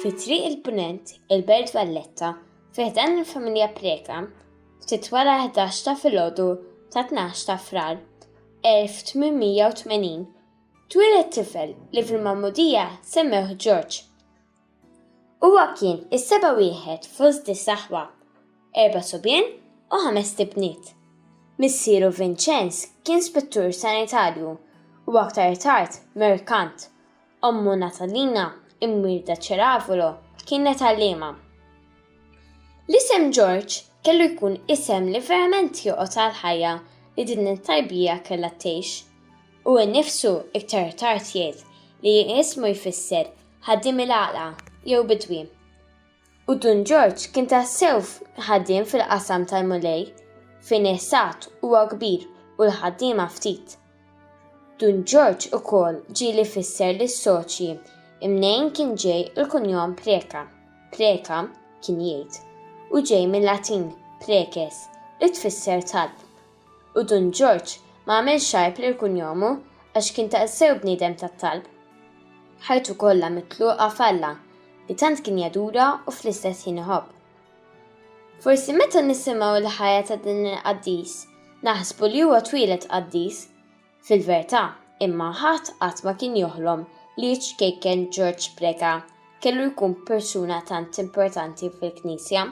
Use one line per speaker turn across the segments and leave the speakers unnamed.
Fi triq il-Punent, il-Belt Valletta, fi ħdan il-familja Preka, ftit wara 11 ta' filgħodu ta' 12 ta' frar 1880, twieled tifel li fil-magħmudija semmewh Ġorġ. Huwa kien is-seba' wieħed fost disa' aħwa, erba' subien u ħamest ibniet. Missieru Vinċenz kien spettur sanitarju u aktar tard merkant. Ommu Natalina, imwielda Ceravolo, kienet għalliema. L-isem Ġorġ kellu jkun isem li verament joqgħod għall-ħajja li din it-tarbija kellha tgħix. Hu nnifsu iktar tard jgħid li ismu jfisser ħaddiem il-għaqla jew bidwi. U Dun Ġorġ kien tassew ħaddiem fil-qasam tal-Mulej, fejn is-sad huwa kbir u l-ħaddiema ftit. Dun Ġorġ ukoll ġieli jfisser lis-soċji mnejn kien ġej il-kunjom Preca, preca, kien jgħid, u ġej mil-Latin preces, li tfisser talb. U Dun Ġorġ ma għamilx għajb lil kunjomu għax kien taqsew bniedem tat-talb. Ħajtu kollha mitluqa f'Alla li tant kien jadura u fl-istess ħin iħobb. Forsi meta nisimgħu l-ħajja ta' din il-qaddis naħsbu li huwa twieled qaddis. Fil-vertà, imma ħadd qatt ma kien joħlom li iċ-ċkejken Ġorġ Preca kellu jkun persuna tant importanti fil-Knisja.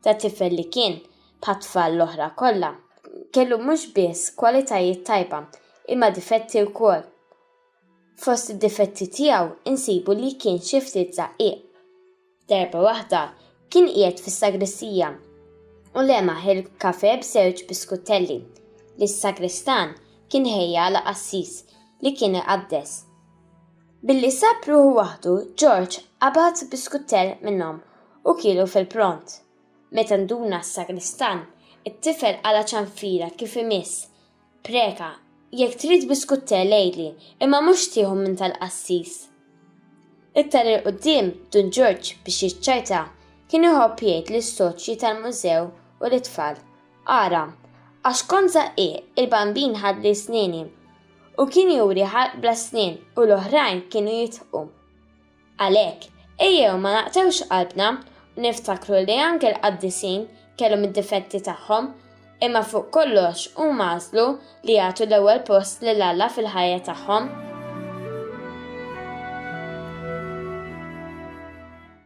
ta' tifel li kien, bħat-tfal l-oħra kollha, kellu mhux biss kwalitajiet tajba imma difetti wkoll. Fost id-difetti tiegħu insibu li kien xi ftit żaqqiq. Darba waħda kien qiegħed fis-sagristija u lemaħ il-kafe b'żewġ biskuttelli li s-sagristan kien ħejja għal qassis li kien iqaddes. Billi sab ruħu waħdu, George qabad biskuttell minnhom u kielu fil-pront. Meta nduna s-sagristan, it-tifel qala' ċanfira kif imiss, Preka, jekk trid biskuttell għidli, imma mhux tieħu minn tal-qassis. Iktar 'il quddiem, Dun George, biex jiċċajta, kien iħobb jgħid lis-soċji tal-mużew u lit-tfal, Ara, għax kont żaqqieq, il-bambin ħadli snieni, u kien juri ħalq bla snien u l-oħrajn kienu jidħku. Għalhekk, ejjew ma naqtgħux qalbna u niftakru li anke l-qaddisin kellhom id-difetti tagħhom, imma fuq kollox huma għażlu li jagħtu l-ewwel post lil Alla fil-ħajja tagħhom.